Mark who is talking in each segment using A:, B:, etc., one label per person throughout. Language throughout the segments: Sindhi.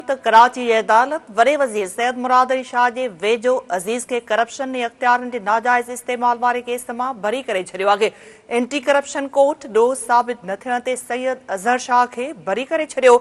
A: ته ڪراچي جي عدالت وڏي وزير سيد مراد علي شاهه جي ويجهو عزيز کي ڪرپشن ۽ اختيارن جي ناجائز استعمال واري ڪيس مان بري ڪري ڇڏيو آهي، اينٽي ڪرپشن ڪورٽ ڏوهه ثابت نه ٿيڻ تي سيد اظهر شاهه کي بري ڪري ڇڏيو،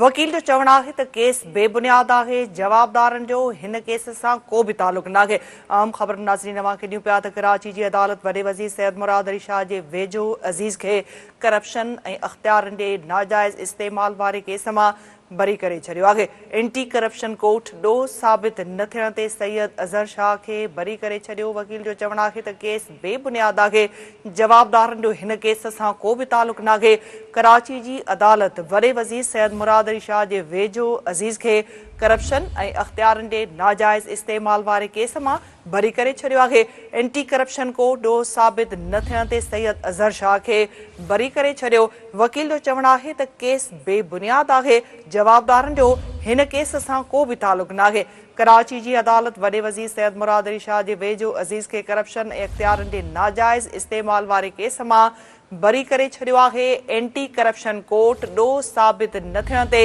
A: وڪيل جو چوڻ آهي ته ڪيس بي بنياد آهي، جوابدارن جو هن ڪيس سان ڪو به تعلق ناهي. اهم خبرون ناظرين اوهان کي ڏيون پيا ته ڪراچي جي عدالت وڏي وزير سيد مراد علي شاهه جي ويجهو عزيز کي ڪرپشن ۽ اختيارن جي ناجائز استعمال واري ڪيس مان بري ڪري ڇڏيو آهي، اينٽي ڪرپشن ڪورٽ ڏوهه ثابت نه ٿيڻ تي سيد اظهر شاهه کي بري ڪري ڇڏيو، وڪيل جو چوڻ آهي ته ڪيس بي بنياد آهي، جوابدارن جو هن ڪيس سان ڪو به تعلق ناهي، ڪراچي جي عدالت وڏي وزير سيد مراد علي شاهه جي ويجهو عزيز کي ڪرپشن ۽ اختيارن جي ناجائز استعمال واري ڪيس مان ڀري ڪري ڇڏيو آهي، اينٽي ڪرپشن ڪو ڏوهه ثابت نه ٿيڻ تي سيد اظهر شاهه کي بري ڪري ڇڏيو، وڪيل جو چوڻ آهي ته ڪيس بي بنياد آهي، جوابدارن جو هن ڪيس سان ڪو به تعلق ناهي، ڪراچي جي عدالت وڏي وزير سيد مراد علي شاهه جي ويجهو عزيز کي ڪرپشن ۽ اختيارن جي ناجائز استعمال واري ڪيس مان بري ڪري ڇڏيو آهي، اينٽي ڪرپشن ڪورٽ ڏوهه ثابت نه ٿيڻ تي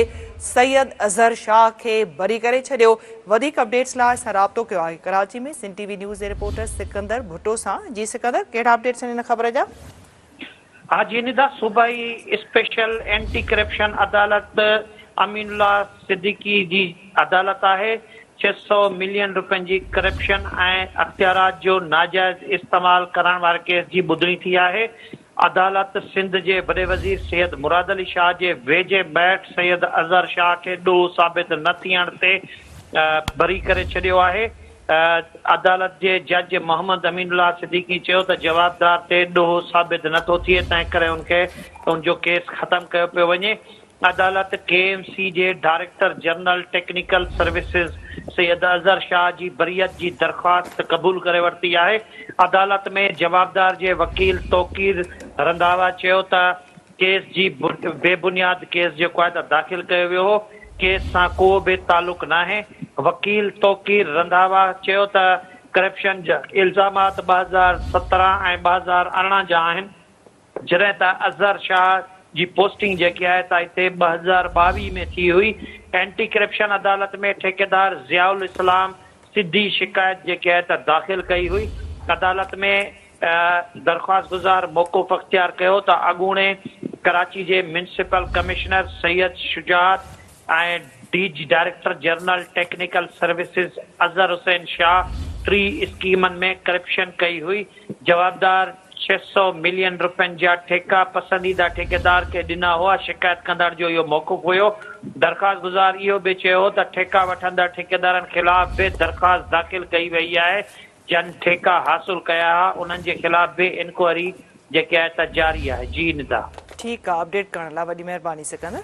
A: سيد اظهر شاهه کي بري ڪري ڇڏيو، وڌيڪ اپڊيٽس لاء اسان رابطو ڪيو آهي Karachi ۾ Sindh TV news جي رپورٽر سڪندر ڀٽو سان، جي سڪندر ڪهڙا اپڊيٽس آهن ان خبر جا؟ ها
B: جي ندا، صوبائي اسپيشل اينٽي ڪرپشن عدالت امين الله صديقي جي عدالت آهي ڇهه سؤ ملين رپين جي ڪرپشن ۽ اختيارات جو ناجائز استعمال ڪرڻ واري ڪيس جي ٻڌڻي ٿي آهي، عدالت سنڌ جي وڏي وزير سيد مراد علي شاهه جي ويجهي ٻيٽ سيد اظهر شاهه کي ڏوهه ثابت نه ٿيڻ تي بري ڪري ڇڏيو آهي، عدالت جي جج محمد امين الله صديقي چيو ته جوابدار تي ڏوهه ثابت نه ٿو ٿئي تنهنڪري ان کي ان جو ڪيس ختم ڪيو پيو وڃي، عدالت ڪي ايم سي جي director general technical services Syed Azhar Shah جي بريت جي درخواست قبول ڪري ورتي آهي. عدالت ۾ جوابدار جي وڪيل توقير رنڌاوا چيو ته ڪيس جي بي بنياد ڪيس جي قاعده داخل ڪيو ويو هو، ڪيس سان ڪو به تعلق ناهي. وڪيل توقير رنڌاوا چيو ته ڪرپشن جا الزامات ٻه هزار سترهن ۽ ٻه هزار ارڙهن جا آهن. جڏهن ته اظهر شاهه جي پوسٽنگ جيڪي آهي سا هتي ٻه هزار ٻاويهه ۾ ٿي هئي. اينٽي ڪرپشن عدالت ۾ ٺيڪيدار ضياء الاسلام سڌي شڪايت جيڪي آهي ته داخل ڪئي هئي. عدالت ۾ درخواستگذار موقف اختيار ڪيو ته اڳوڻي ڪراچي جي municipal commissioner Syed Shujaat ۽ D G director general technical services Azhar Hussain Shah ٽي اسڪيمن ۾ ڪرپشن ڪئي هئي، جوابدار ڇهه سؤ ملين رپين جا ٺيڪا پسنديده ٺيڪيدار کي ڏنا هئا، شڪايت ڪندڙ جو اهو موقف هيو، درخواست گذار اهو به چيو هو ته ٺيڪا وٺندڙ ٺيڪيدارن خلاف به درخواست داخل ڪئي وئي آهي، جن ٺيڪا حاصل ڪيا ها انهن جي خلاف به انڪوائري
A: جيڪي آهي
B: ته
A: جاري
B: آهي
A: جي
B: ندا.
A: ٺيڪ آ
B: اپڊيٽ
A: ڪرڻ
B: لا
A: وڏي
B: مھرباني
A: سڪندر.